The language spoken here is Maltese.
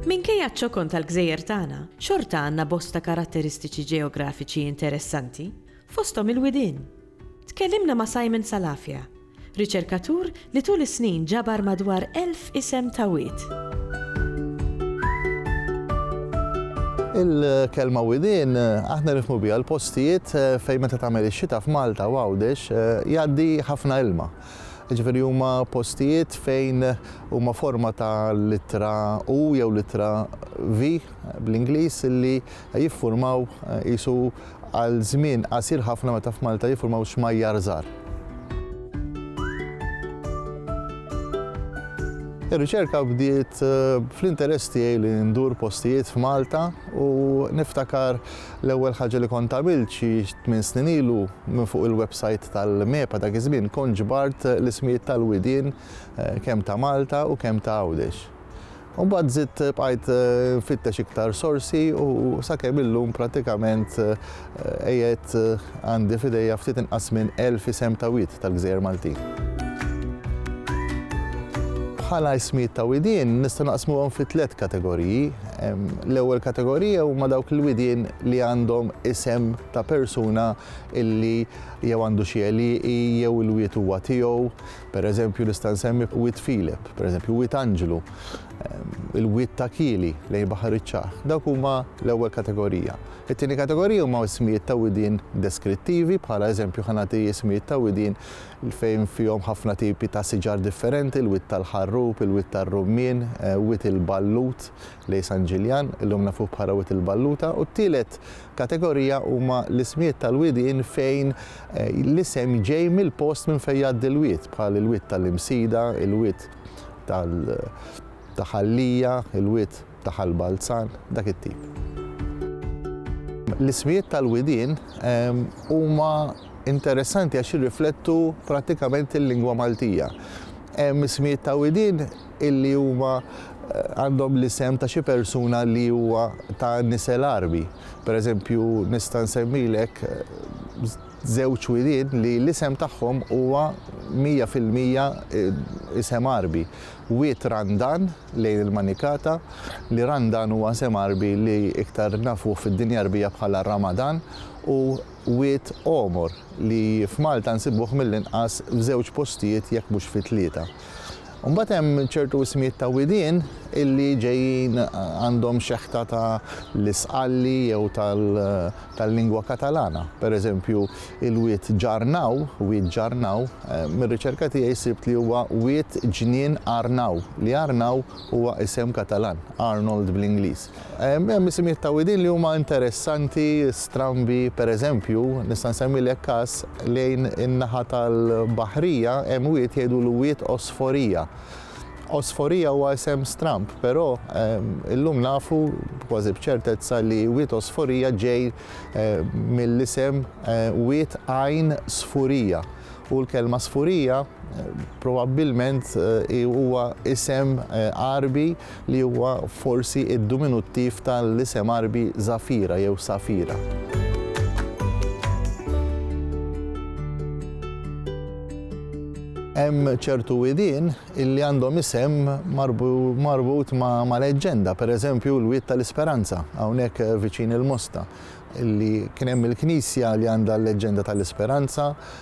Minkejja ċ-ċokon tal-gżejjer tagħna, xorta għandna bosta karatteristiċi ġeografiċi interessanti, fosthom il-widien. Tkellimna ma' Simon Salafia, Riċerkatur li tul is-snin ġabar madwar elf isem ta' wied. Il-kelma widien aħna nifhmu biha l-postijiet eh, fejn meta tagħmel ix-xita f'Malta u Għawdex eh, jgħaddi ħafna ilma. Ġifieri huma postijiet fejn huma forma ta' litra U jew litra V bl-Ingliż li Jiffurmaw qisu għal żmien qasir ħafna meta f'Malta jiffurmaw xmajjar żgħar. Ir-riċerka bdiet eh, fl-interess tiegħi li ndur postijiet f'Malta u niftakar l-ewwel ħaġa li kont għamilt xi tmien snin ilu minn fuq il-website tal-MEPA dak iż-żmien kont ġbart l-ismijiet tal-widien eh, kemm ta' Malta u kemm ta' Għawdex. U mbagħad żidt bqajt nfittex iktar sorsi u sakemm illum prattikament qiegħed għandi f'idejja ftit inqas minn elf isem ta' wied tal-gżejjer Maltin. Bħala ismijiet ta' widien nistgħu naqsmuhom fi tliet kategoriji. L-ewwel kategorija huma dawk il-widien li għandhom isem ta' persuna illi jew għandu xi għelieqi jew il-wied huwa tiegħu. Per eżempju nista' nsemmi Wied Filip, per eżempju Wied Anġlu, il-Wied ta' Kieli lejn Baħar iċ-Ċah. Dawk huma l-ewwel kategorija. It-tieni kategorija huma ismijiet ta' widien deskrittivi, bħala eżempju ħa nagħti ismijiet ta' widien fejn fihom ħafna tipi ta' siġar differenti, il-Wied tal-Ħarrub, il-Wied tar-Rummien, Wied il-Ballut lejn San Ġiljan, illum nafuh bħala Wied il-Balluta, u t-tielet kategorija huma l-ismijiet tal-widien fejn L-isem ġej mill-post minn fejn jgħaddi l-wied, bħal il-wied ta' l-Imsida, il-wied ta' Ħal Lija, il-wied ta' Ħal Balzan, dak it-tip. L-ismijiet tal-widien huma interessanti għax jirriflettu prattikament il-lingwa Maltija. Hemm ismijiet ta' widien illi huma għandhom l-isem ta' xi persuna li huwa ta' nisel Għarbi. Per eżempju, nista' nsemmilek żewġ wilied li l-isem tagħhom huwa mija fil-mija isem Għarbi. Wied Randan lejn il-Manikata, li Randan huwa isem Għarbi li iktar nafuh fid-dinja Għarbija bħala Ramadan, u wied Għomor li f'Malta nsibuh mill-inqas f'żewġ postijiet jekk mhux fi tlieta. U mbagħad hemm ċertu ismijiet ta' widien illi ġejjin għandhom xeħta ta' l-Isqalli jew tal-lingwa Katalana. Per eżempju, il-wied Ġarnaw, Wied Ġarnaw, mir-riċerka tiegħi sibt li huwa wied ġnien Arnau, li Arnau huwa isem Katalan, Arnold bl-Ingliż. Hemm isimijiet ta' widien li huma interessanti, strambi, pereżempju, nista' nsemmilek każ, lejn in-naħa tal-Baħrija hemm wied jgħidulu Wied Osforija. Osforija huwa isem stramb, però illum nafu kważi b'ċertezza li Wied Osforija ġej mill-isem Wied Għajn Sfurija u l-kelma Sfurija probabbilment huwa isem Għarbi li huwa forsi d-duminuttiv ta' l-isem Għarbi Zafira jew Safira. Hemm ċertu widien li għandhom isem marbut ma' leġġenda, per eżempju l-Wied ta' l-Isperanza, hawnhekk viċin il-Mosta, li kien hemm il-knisja li għandha l-leġġenda ta' l-Isperanza,